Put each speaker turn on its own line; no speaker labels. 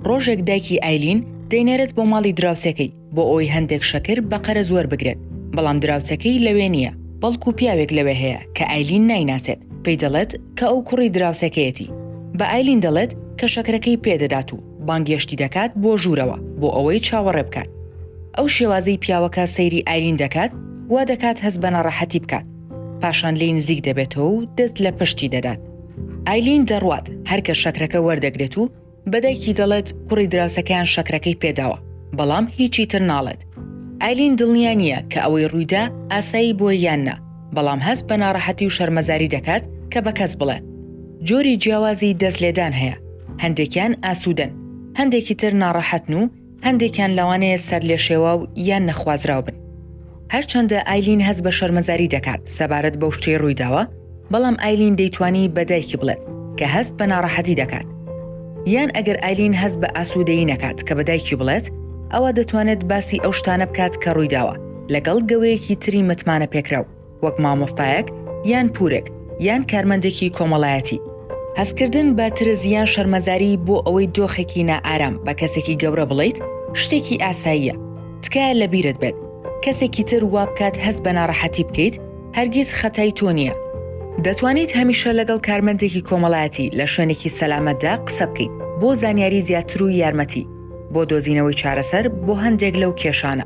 ڕۆژێک دایکی ئایلین دەینێرێت بۆ ماڵی دراوسێکەی بۆ ئەوەی هەندێک شەکر بە قەرەز وەربگرێت، بەڵام دراوسێکەی لەوێ نییە، بەڵکو پیاوێک لەوێ هەیە کە ئایلین نایناسێت، پێی دەڵێت کە ئەو کوڕی دراوسێکەیەتی، بە ئایلین دەڵێت کە شەکرەکەی پێ دەدات و بانگێشتی دەکات بۆ ژوورەوە بۆ ئەوەی چاوەڕێ بکات. ئەو شێوازەی پیاوەکە سەیری ئایلین دەکات وا دەکات هەست بە ناڕەحەتی بکات، پاشان لێی نزیک دەبێتەوە و دەست لە پشتی دەدات. ئایلین دەڕوات، هەر کە شەکرەکە وەردەگرێت و بە دایکی دەڵێت کوڕی دراوسەکەیان شەکرەکەی پێداوە، بەڵام هیچی تر ناڵێت. ئایلین دڵنیا نییە کە ئەوەی ڕوویدا ئاسایی بووە یان نا، بەڵام هەست بە ناڕەحەتی و شەرمەزاری دەکات کە بە کەس بڵێت. جۆری جیاوازی دەست لێدان هەیە، هەندێکیان ئاسوودەن، هەندێکی تر ناڕەحەتن و هەندێکیان لەوانەیە سەرلێشێواو یان نەخوازراو بن. هەرچەندە ئایلین هەست بە شەرمەزاری دەکات سەبارەت بەو شتەی ڕوویداوە، بەڵام ئایلین دەیتوانی بە دایکی بڵێت کە هەست بە ناڕەحەتی دەکات. یان ئەگەر ئایلین هەست بە ئاسوودەیی نەکات کە بە دایکی بڵێت، ئەوا دەتوانێت باسی ئەو شتانە بکات کە ڕوویداوە لەگەڵ گەورەیەکی تری متمانەپێکراو. وەک مامۆستایەک یان پورێک یان کارمەندێکی کۆمەڵایەتی. هەستکردن بە ترس یان شەرمەزاری بۆ ئەوەی دۆخێکی نائارام بە کەسێکی گەورە بڵێیت شتێکی ئاساییە. تکایە لە بیرت بێت کەسێکی تر وابکات هەست بە ناڕەحەتی بکەیت هەرگیز خەتای تۆ نییە. دەتوانیت هەمیشە لەگەڵ کارمەندێکی کۆمەڵایەتی لە شوێنێکی سەلامەتدا قسە بکەیت بۆ زانیاری زیاتر و یارمەتی بۆ دۆزینەوەی چارەسەر بۆ هەندێک لەو کێشانە.